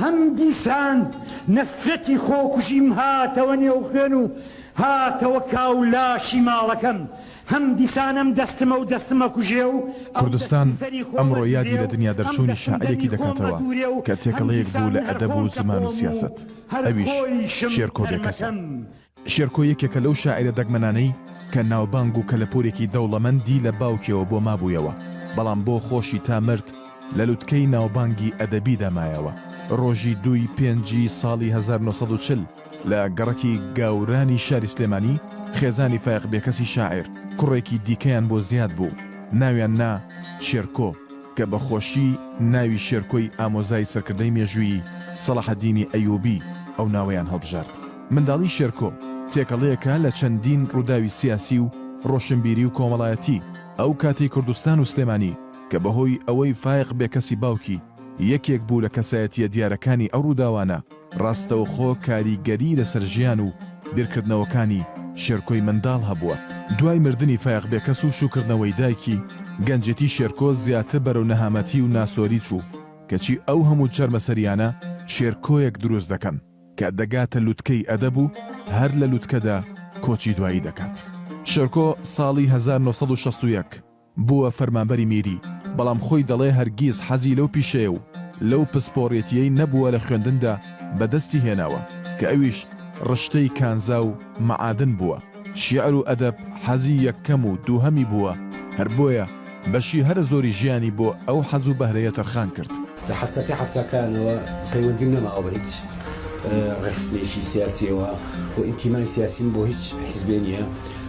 هەم دیسان نەفرەتی خۆکوژیم هاتەوە نێو خوێن و هاتەوە کاو لاشی ماڵەکەم، هەم دیسان ئەم دەستمە و دەستمە کوژێ و ئەو کوردستان دەستم سەری خۆمە ئەمڕۆ یادی دوورێ لە و دنیا ئەم دەرچوونی دەستم شاعیرێکی دەمی خۆمە دەکاتەوە دوورێ و کە هەم تێکەڵەیەک بوو دیسان لە هەر ئەدەب و خۆم زمان و تەپۆم و سیاسەت، هەر ئەویش خۆیشم شێرکۆ بێکەسە. تەرمەکەم. شێرکۆ یەکێکە لەو شاعیرە دەگمەنانەی کە ناوبانگ و کەلەپوورێکی دەوڵەمەندی لە باوکیەوە بۆ مابوویەوە، بەڵام بۆ خۆشی تا مرد لە لوتکەی ناوبانگی ئەدەبیدا مایەوە. ڕۆژی دووی پێنجی ساڵی هەزار و نۆ سەد و چل لە گەڕەکی گاورانی شاری سلێمانی خێزانی فایەق بێکەسی شاعیر کوڕێکی دیکەیان بۆ زیاد بوو ناویان نا شێرکۆ کە بە خۆشی ناوی شێرکۆی ئامۆزای سەرکردەی مێژوویی سەڵاحەدینی ئەیووبی ئەو ناوەیان هەڵبژارد. منداڵی شێرکۆ، تێکەڵەیەکە لە چەندین ڕووداوی سیاسی و ڕۆشنبیری و کۆمەڵایەتی ئەو کاتەی کوردستان و سلێمانی کە بەهۆی ئەوەی فایەق بێکەسی باوکی یەکێک بوو لە کەسایەتییە دیارەکانی ئەو ڕووداوانە ڕاستەوخۆ کاریگەری لەسەر ژیان و بیرکردنەوەکانی شێرکۆی منداڵ هەبووە. دوای مردنی فایەق بێکەس و شووکردنەوەی دایکی، گەنجێتی شێرکۆ زیاتر بەرەو نەهامەتی و ناسۆری چوو، کەچی ئەو هەموو چەرمەسەرییانە شێرکۆیەک دروست دەکەن. کە دەگاتە لوتکەی ئەدەب و هەر لە لوتکەدا کۆچی دوایی دەکات. شێرکۆ ساڵی هەزار و نۆ سەد و شەست و یەک بووە فەرمانبەری میری، بەڵام خۆی دەڵێ هەرگیز حەزی لەو پیشەیە و لەو پسپۆڕێتییەی نەبووە لە خوێندندا بەدەستی هێناوە، کە ئەویش ڕشتەی کانزا و مەعادن بووە. شیعر و ئەدەب حەزی یەککەم و دووهەمی بووە، هەر بۆیە بەشی هەرە زۆری ژیانی بۆ ئەو حەز و بەهرەیە تەرخان کرد. لە حەسرەتی حەفتاکانەوە پەیوەندیم نەماوە بە هیچ ڕێکخستنێکی سیاسییەوە و ئینتیمای سیاسیم بۆ هیچ حیزبێ نییە،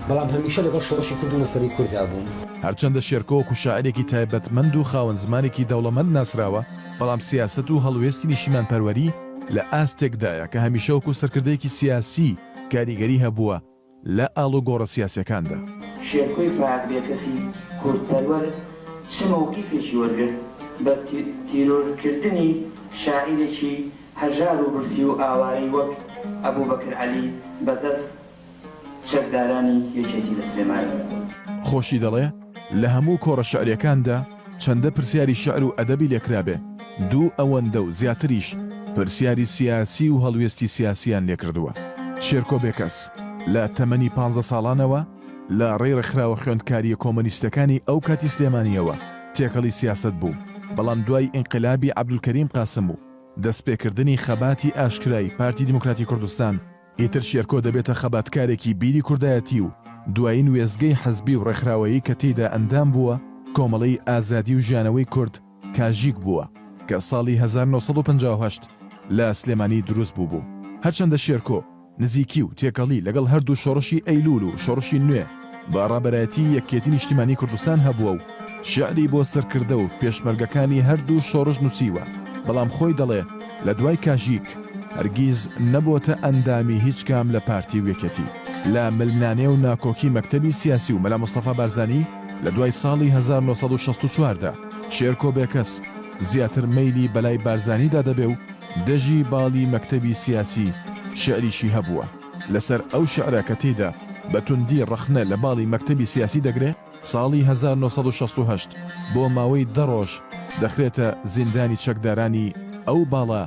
بەڵام هەمیشە لەگەڵ شۆڕشی کورد و مەسەلەی کورددا بووم. هەرچەندە شێرکۆ وەکوو شاعیرێکی تایبەتمەند و خاوەن زمانێکی دەوڵەمەند ناسراوە، بەڵام سیاسەت و هەڵوێستی نیشتیمانپەروەری لە ئاستێکدایە کە هەمیشە وەکوو سەرکردەیەکی سیاسی، کاریگەری هەبووە لە ئاڵوگۆڕە سیاسیەکاندا. شێرکۆی فەهد بێکەسی کوردپەروەر چ مەوقیفێکی وەرگرت بە تیرۆرکردنی شاعیرێکی هەژار و برسی و ئاوارەی وەک ئەبوبەکر عەلی بە دەست چەکدارانی یەکێتی لە سلێمانی؟ خۆشی دەڵێ لە هەموو کۆڕە شعریەکاندا، چەندە پرسیاری شیعر و ئەدەبی لێ کرابێ، دوو ئەوەندە و زیاتریش پرسیاری سیاسی و هەڵوێستی سیاسییان لێ کردووە. شێرکۆ بێکەس لە تەمەنی پانزە ساڵانەوە لە ڕێی ڕێکخراوە خوێندکارییە کۆمۆنیستەکانی ئەو کاتی سلێمانییەوە تێکەڵی سیاسەت بوو، بەڵام دوای ئینقلابی عەبدولکەریم قاسم و دەستپێکردنی خەباتی ئاشکرای پارتی دیموکراتی کوردستان، ئیتر شێرکۆ دەبێتە خەباتکارێکی بیری کوردایەتی و دوایین وێستگەی حزبی و ڕێکخراوەیی کە تێیدا ئەندام بووە، کۆمەڵەی ئازادی و ژیانەوەی کورد، کاژیک، بووە، کە ساڵی هەزار و نۆ سەد و پەنجا و هەشت لە سلێمانی دروست بووبوو. هەرچەندە شێرکۆ نزیکی و تێکەڵی لەگەڵ هەردوو شۆڕشی ئەیلوول و شۆڕشی نوێ، با ڕابەرایەتی یەکێتی نیشتیمانی کوردستان هەبووە و شیعری بۆ سەرکردە و پێشمەرگەکانی هەردوو شۆڕش نووسیوە، بەڵام خۆی دەڵێ لە دوای کاژیک هەرگیز نەبۆتە ئەندامی هیچ کام لە پارتی و یەکێتی. لە ململانێ و ناکۆکی مەکتەبی سیاسی و مەلا مستەفا بارزانی لە دوای ساڵی هەزار و نۆ سەد و شەست و چوار دا، شێرکۆ بێکەس زیاتر مەیلی بەلای بارزانیدا دەبێ و دەژی باڵی مەکتەبی سیاسی شیعریشی هەبووە. لەسەر ئەو شیعرە کە تێیدا بە توندی ڕەخنە لە باڵی مەکتەبی سیاسی دەگرێ، ساڵی هەزار و نۆ سەد و شەست و هەشت بۆ ماوەی دە ڕۆژ دەخرێتە زیندانی چەکدارانی ئەو باڵە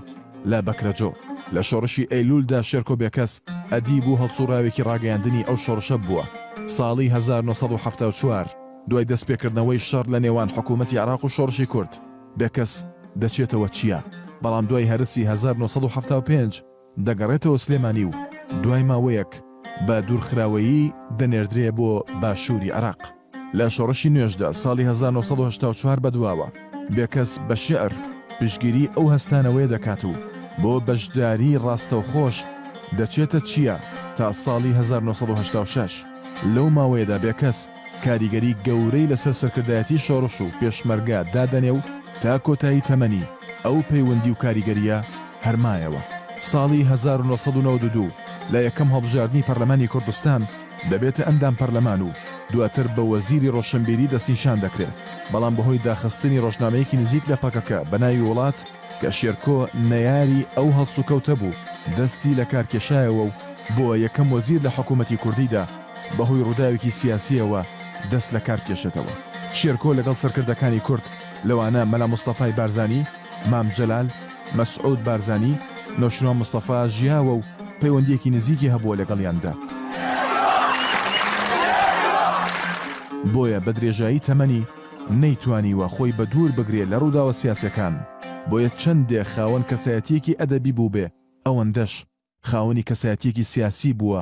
لە بەکرەجۆ. لە شۆڕشی ئەیلوولدا شێرکۆ بێکەس ئەدیب و هەڵسووڕاوێکی ڕاگەیاندنی ئەو شۆڕشە بووە. ساڵی هەزار و نۆ سەد و حەفتا و چوار دوای دەستپێکردنەوەی شەڕ لە نێوان حکوومەتی عێراق و شۆڕشی کورد، بێکەس دەچێتەوە چیا، بەڵام دوای هەرەسی هەزار و نۆ سەد و حەفتا و پێنج، دەگەڕێتەوە سلێمانی و دوای ماوەیەک بە دوورخراوەیی دەنێردرێ بۆ باشووری عێراق. لە شۆڕشی نوێژدا ساڵی هەزار و نۆ سەد و هەشتا و چوار بەدواوە، بێکەس بە شیعر پشتگیریی ئەو هەستانەوەیە دەکات و بۆ بەشداریی ڕاستەوخۆش دەچێتە چیا تا ساڵی هەزار و نۆ سەد و هەشتا و شەش، لەو ماوەیەدا بێکەس کاریگەری گەورەی لەسەر سەرکردایەتی شۆڕش و پێشمەرگە دادەنێ و تا کۆتایی تەمەنی ئەو پەیوەندی و کاریگەرییە هەر مایەوە. ساڵی هەزار و نۆ سەد و نەوەد و دوو لە یەکەم هەڵبژاردنی پەرلەمانی کوردستان دەبێتە ئەندام پەرلەمان و دواتر بە وەزیری ڕۆشنبیری دەستنیشان دەکرێ، بەڵام بەهۆی داخستنی ڕۆژنامەیەکی نزیک لە پەکەکە بە ناوی وڵات کە شێرکۆ نەیاری ئەو هەڵسوکەوتە بوو دەستی لەکار کێشایەوە و بووە یەکەم وەزیر لە حکوومەتی کوردیدا. بەهۆی ڕووداوێکی سیاسییەوە دەست لەکار بکێشێتەوە. شێرکۆ لەگەڵ سەرکردەکانی کورد لەوانە مەلا مستەفای بارزانی، مام جەلال، مەسعود بارزانی، نەوشیروان مستەفا ژیاوە و پەیوەندییەکی نزیکی هەبووە لەگەڵیاندا. بۆیە بە درێژایی تەمەنی نەیتوانیوە خۆی بەدوور بگرێ لە ڕووداوە سیاسیەکان، بۆیە چەندێ خاوەن کەسایەتییەکی ئەدەبی بووبێ ئەوەندەش خاوەنی کەسایەتییەکی سیاسی بووە